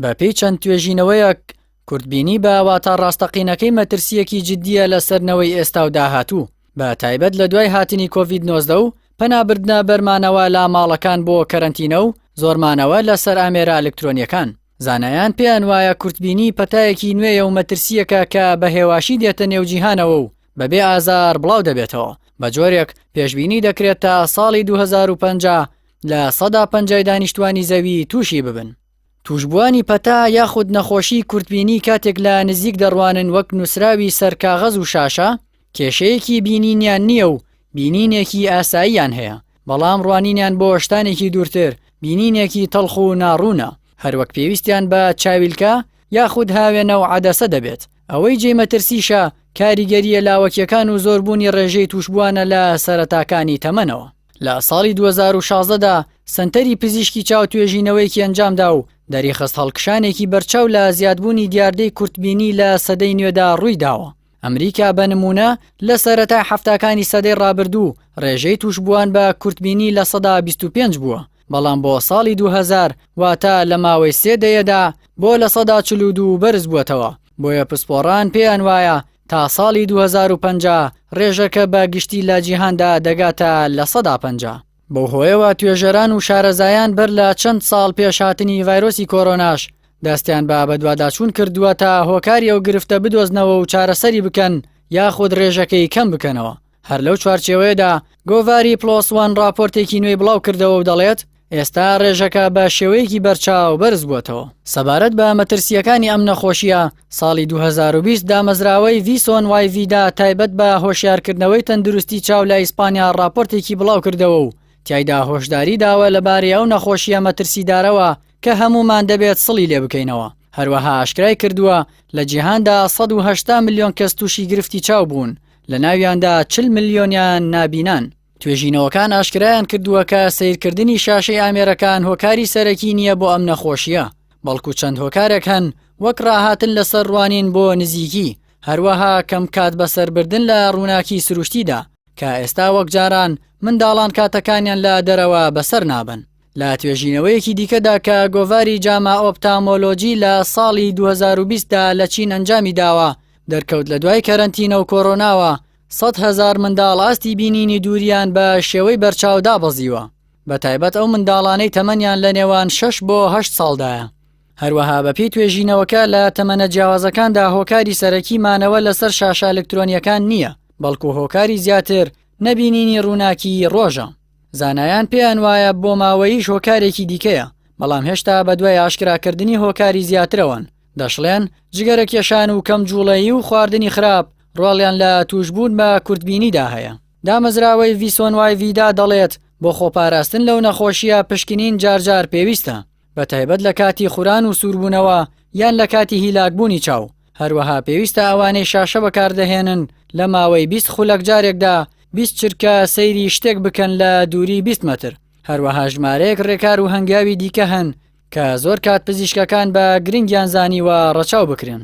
بەپێی چەند توێژینەوەیەک، کورتبینی بە واتا ڕاستەقینەکەی مەترسییەکی جددییە لەسەر نەوەی ئێستا و داهاتوو، بە تایبەت لە دوای هاتنی کۆڤید نۆزدە و پەنابردنە بەر مانەوە لە ماڵەکان بۆ کەرەنتینە و زۆر مانەوە لەسەر ئامێرە ئەلکترۆنییەکان. زانایان پێیان وایە کورتبینی پەتایەکی نوێیە و مەترسییەکە کە بە هێواشی دێتە نێو جیهانەوە و بەبێ ئازار بڵاو دەبێتەوە، بە جۆرێک پێشبینی دەکرێت تا ساڵی دوو هەزار و پەنجا، لە سەدا پەنجای دانیشتوانی زەوی تووشی ببن. توشبووانی پەتا یاخود نەخۆشی کورتبینی کاتێک لە نزیک دەڕوانن وەک نووسراوی سەر کاغەز و شاشە کێشەیەکی بینینیان نییە و بینینێکی ئاساییان هەیە بەڵام ڕوانینیان بۆ شتانێکی دوورتر بینینێکی تەڵخ و ناڕوونە هەروەک پێویستیان بە چاویلکە یاخود هاوێنە و عەدەسە دەبێت ئەوەی جێی مەترسیشە کاریگەریە لاوەکیەکان و زۆربوونی ڕێژەی توشبووانە لە سەرەتاکانی تەمەنەوە لە ساڵی دوو هەزار و شازدە دا سەنتەری پزیشکی چاو توێژینەوەیەکی ئەنجامدا و دەریخست هەڵکشانێکی بەرچاو لە زیادبوونی دیاردەی کورتبینی لە سەدەی نوێدا ڕووی داوە. ئەمریکا بە نموونە لە سەرەتای حەفتاکانی سەدەی ڕابردوو ڕێژەی تووشبووان بە کورتبینی لە سەدا 25 بووە، بەڵام بۆ ساڵی دوو هەزار واتە لە ماوەی سێ دەیەدا بۆ لە سەدا چل و دوو بەرز بووەتەوە. بۆیە پسپۆڕان پێیان وایە تا ساڵی دوو هەزار و پەنجا ڕێژەکە بە گشتی لە جیهاندا دەگاتە لە سەدا پەنجا. بەو هۆیەوە توێژەران و شارەزایان بەر لە چەند ساڵ پێش هاتنی ڤایرۆسی کۆرۆناش دەستیان بە بەدواداچوون کردووە تا هۆکاری ئەو گرفتە بدۆزنەوە و چارەسەری بکەن یاخود ڕێژەکەی کەم بکەنەوە. هەر لەو چوارچێوەیەدا گۆڤاری پڵۆس وان ڕاپۆرتێکی نوێی بڵاو کردەوە و دەڵێت ئێستا ڕێژەکە بە شێوەیەکی بەرچاو بەرز بووەتەوە سەبارەت بە مەترسییەکانی ئەم نەخۆشییە ساڵی 2020 دا مەزراوەی ڤیسۆن وای ڤیدا تایبەت بە هۆشیارکردنەوەی تەندروستی چاو لە ئیسپانیا ڕاپۆرتێکی بڵاو کردەوە و تیایدا هۆشداری داوە لەبارەی ئەو نەخۆشییە مەترسیدارەوە کە هەموومان دەبێت سڵی لێ بکەینەوە هەروەها ئاشکرای کردووە لە جیهاندا 180 ملیۆن کەس تووشی گرفتی چاو بوون لە ناویاندا چل ملیۆنیان نابینان. توێژینەوەکان ئاشکرایان کردووە کە سیرکردنی شاشەی ئامێرەکان هۆکاری سەرەکی نییە بۆ ئەم نەخۆشییە، بەڵکو چەند هۆکارێک هەن وەک ڕاهاتن لەسەر ڕوانین بۆ نزیکی، هەروەها کەم کات بەسەربردن لە ڕووناکی سروشتیدا، کە ئێستا وەک جاران منداڵان کاتەکانیان لە دەرەوە بەسەر نابەن. لە توێژینەوەیەکی دیکەدا کە گۆڤاری جاما ئۆپتامۆلۆجی لە ساڵی دوو هەزار و بیست دا لە چین ئەنجامی داوە، دەرکەوت لە دوای کەرەنتینە و کۆرۆناوە، سەد هەزار منداڵ ئاستی بینینی دوورییان بە شێوەی بەرچاو دابەزیوە، بەتایبەت ئەو منداڵانەی تەمەنیان لە نێوان شەش بۆ هەشت ساڵدایە. هەروەها بەپێی توێژینەوەکە لە تەمەنە جیاوازەکاندا هۆکاری سەرەکی مانەوە لەسەر شاشە ئەلکترۆنییەکان نییە، بەڵکو هۆکاری زیاتر نەبینینی ڕووناکیی ڕۆژە. زانایان پێیان وایە بۆماوەییش هۆکارێکی دیکەیە، بەڵام هێشتا بەدوای ئاشکراکردنی هۆکاری زیاترەوەن، دەشڵێن، جگەرەکێشان و کەم جوڵەیی و خواردنی خراپ ڕۆڵیان لە تووشبوون بە کورتبینیدا هەیە. دامەزراوەی ڤیسۆنوایڤیدا دەڵێت، بۆ خۆپاراستن لەو نەخۆشییە پشکنین جارجار پێویستە، بە تایبەت لە کاتی خوران و سووربوونەوە یان لە کاتی هیلاکبوونی چاو، هەروەها پێویستە ئەوانەی شاشە بەکاردەهێنن لە ماوەی بیست خولەک جارێکدا بیست چرکە سەیری شتێک بکەن لە دووری بیست مەتر، هەروەها ژمارەیەک ڕێکار و هەنگاوی دیکە هەن کە زۆر کات پزیشکەکان بە گرنگیان زانیوە ڕەچاو بکرێن.